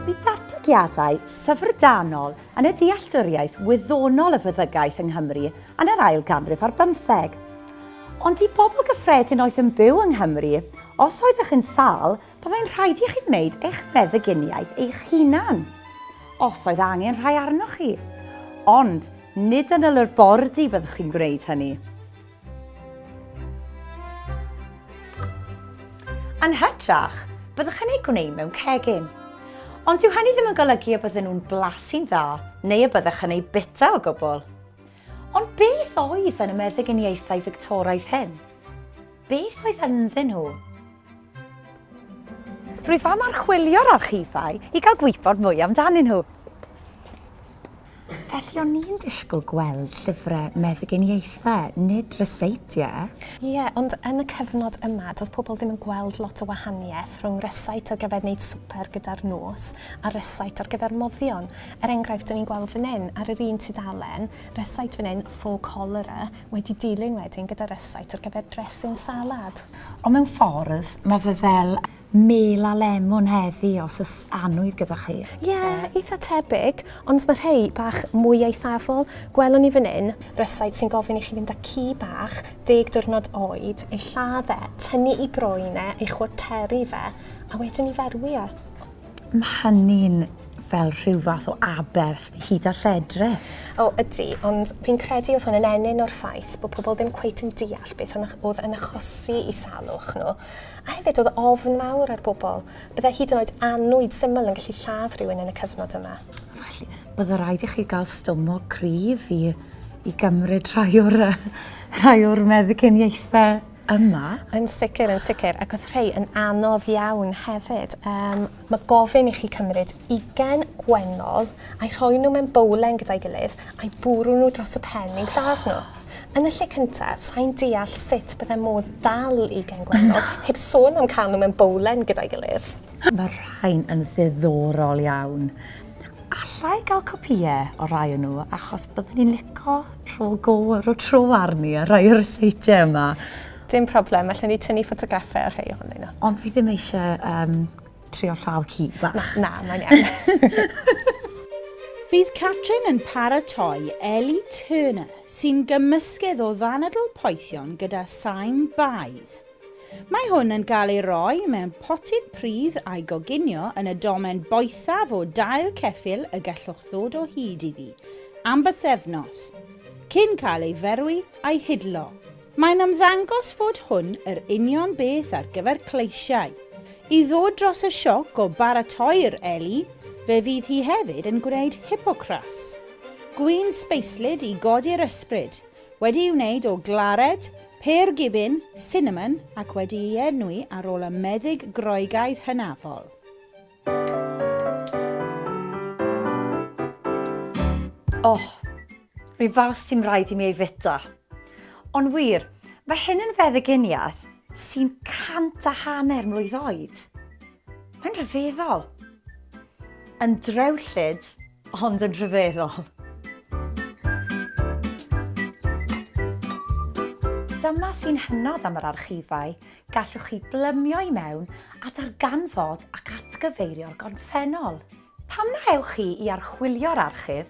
Bydd datblygiadau syfrdanol yn y dealltwriaeth wyddonol y feddygaeth yng Nghymru yn yr ail ganrif ar bymtheg. Ond i bobl gyffredin oedd yn byw yng Nghymru, os oeddech yn sâl, byddai'n rhaid i chi wneud eich meddyginiaeth eich hunan, os oedd angen rhai arnoch chi. Ond nid yn y labordy byddwch chi'n gwneud hynny. Yn hytrach, byddwch yn eu gwneud mewn cegin. Ond dyw hynny ddim yn golygu y bydden nhw'n blasu'n dda neu y byddwch yn eu bita o gwbl. Ond beth oedd yn y meddyginiaethau Fictoraidd hyn? Beth oedd ynddyn nhw? Rwyf am archwilio'r archifau i gael gwybod mwy amdanyn nhw. Felly o'n i'n disgwyl gweld llyfrau meddyginiaethau, nid ryseitiau. Ie, yeah, ond yn y cyfnod yma, doedd pobl ddim yn gweld lot o wahaniaeth rhwng rysait ar gyfer wneud swper gyda'r nos a rysait ar gyfer moddion. Er enghraifft, dyn ni'n gweld fan hyn, ar yr un tudalen, rysait fan hyn, faux cholera, wedi dilyn wedyn gyda rysait ar gyfer dressing salad. Ond mewn ffordd, mae fe fel mêl a lemwn heddi os oes annwyd gyda chi. Ie, eitha tebyg, ond mae rhei bach mwy eithafol, gwelwn i fan hyn. Rysáit sy'n gofyn i chi fynd â ci bach, deg diwrnod oed, ei lladd e, tynnu ei groen e, ei chwarteru fe, a wedyn ei ferwi e. Mae hynny'n fel rhyw fath o aberth hyd a lledrith. O, ydy, ond fi'n credu oedd hwn yn ennyn o'r ffaith bod pobl ddim cweit yn deall beth oedd yn achosi i salwch nhw, a hefyd oedd ofn mawr ar bobl. Byddai hyd yn oed annwyd syml yn gallu lladd rhywun yn y cyfnod yma. Felly, byddai rhaid i chi gael stumog cryf i, i gymryd rhai o'r, rhai o'r meddyginiaethau. yma. Yn sicr, yn sicr, ac oedd rhai yn anodd iawn hefyd. Um, mae gofyn i chi cymryd ugen gwennol a'i rhoi nhw mewn bowlen gyda'i gilydd a'i bwrw nhw dros y pen i'n lladd nhw. Yn y lle cyntaf, sa'n deall sut bydde modd dal i gen gwennol, heb sôn am cael nhw mewn bowlen gyda'i gilydd. Mae rhain yn ddiddorol iawn. Alla i gael copïe o rai o nhw achos byddwn ni'n lico rho go ar y tro arni ar rai o'r seitiau yma. Dim problem, allwn ni tynnu ffotograffau ar rhai ohonyn nhw. Ond fi ddim eisiau um, trio llaw ci bach. Na, na mae'n iawn. Bydd Catrin yn paratoi Ellie Turner, sy'n gymysgedd o ddanadl poethion gyda sain baedd. Mae hwn yn cael ei roi mewn potyn pridd a'i goginio yn y domen boethaf o dail ceffyl y gallwch ddod o hyd iddi am bythefnos, cyn cael ei ferwi a'i hidlo. Mae'n ymddangos fod hwn yr union beth ar gyfer cleisiau. I ddod dros y sioc o baratoi'r eli, fe fydd hi hefyd yn gwneud hipocras. Gwin sbeislyd i godi'r ysbryd, Wedi'i wneud o glared, pêr gibin, sinamon ac wedi'i enwi ar ôl y meddyg Groegaidd hynafol. Oh, rhyw fath sy'm rhaid i mi ei fwyta. Ond wir, mae hyn yn feddyginiaeth sy'n cant a hanner mlwydd oed. Mae'n rhyfeddol! Yn drewllyd, ond yn rhyfeddol. Dyma sy'n hynod am yr archifau, gallwch chi blymio i mewn a darganfod ac atgyfeirio'r gorffennol. Pam na ewch chi i archwilio'r archif